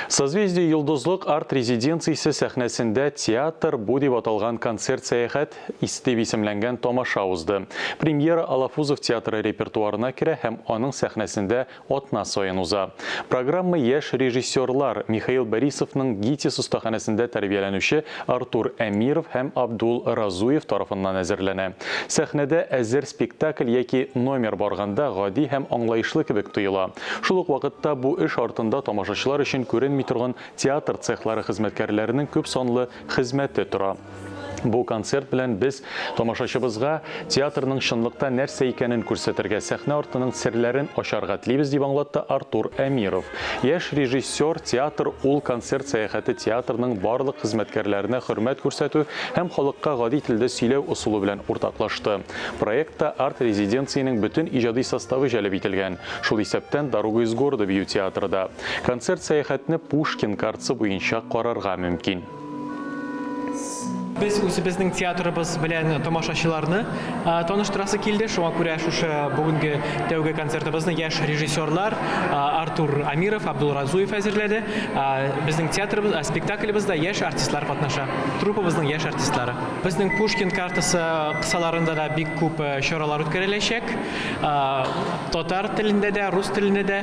Созвездие йолдызлык арт-резиденциясе сәхнәсендә Театр бу дип аталган концерт-сәяхәт дип исемләнгән тамаша узды. Премьера Алафузов театры репертуарына керә һәм аның сәхнәсендә атна саен уза. Программа яшь режиссерлар, Михаил Борисовның ГИТИС остаханәсендә тәрбияләнүче Артур Әмиров һәм Абдул Разуев тарафыннан әзерләнә. Сәхнәдә әзер спектакль яки номер барганда гади һәм аңлаешлы кебек тоела. Шул ук вакытта бу эш артында тамашачылар өчен күренми торган театр цехлары хезмәткәрләренең күп санлы хезмәте тора. Бу концерт белән без тамашачыбызга театрның чынлыкта нәрсә икәнен күрсәтергә, сәхнә артының серләрен ачарга телибез, дип аңлатты Артур Әмиров. Яшь режиссер, Театр, ул концерт сәяхәте театрның барлык хезмәткәрләренә хөрмәт күрсәтү һәм халыкка гади телдә сөйләү ысулы белән уртаклашты. Проектта арт-резиденциянең бөтен иҗади составы җәлеп ителгән, шул исәптән Дорога из города бию театры да. Концерт сәяхәтне Пушкин картасы буенча карарга мөмкин. Без үзебезнең театрыбыз белән тамашачыларны таныштырасы килде, шуңа күрә шушы бүгенге тәүге концертыбызны яшь режиссерлар Артур Амиров, Абдул Разуев әзерләде. Безнең театрыбыз, спектаклебызда яшь артистлар катнаша, труппабызның яшь артистлары. Безнең Пушкин картасы кысаларында да бик күп чаралар үткәреләчәк. Татар телендә дә, рус телендә дә,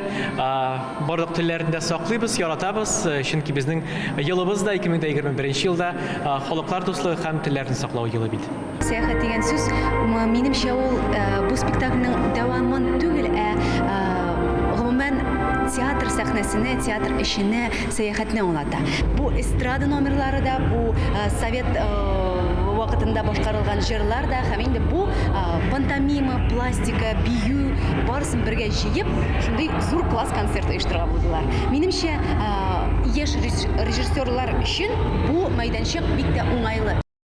барлык телләрне дә саклыйбыз, яратабыз, чөнки безнең елыбыз да 2021 елда халыклар дуслыгы һәм телләрне саклау елы бит. Сәяхәт дигән сүз, минемчә, ул бу спектакльнең дәвамын түгел, ә гомумән театр сәхнәсенә, театр эшенә сәяхәтне аңлата. Бу эстрада номерлары да, бу э, совет э, вакытында башкарылган җырлар да һәм инде бу э, пантомима, пластика, бию барысын бергә җыеп, шундый зур класс концерт оештырган булдылар. Минемчә, яшь режиссерлар өчен бу мәйданчык бик тә уңайлы.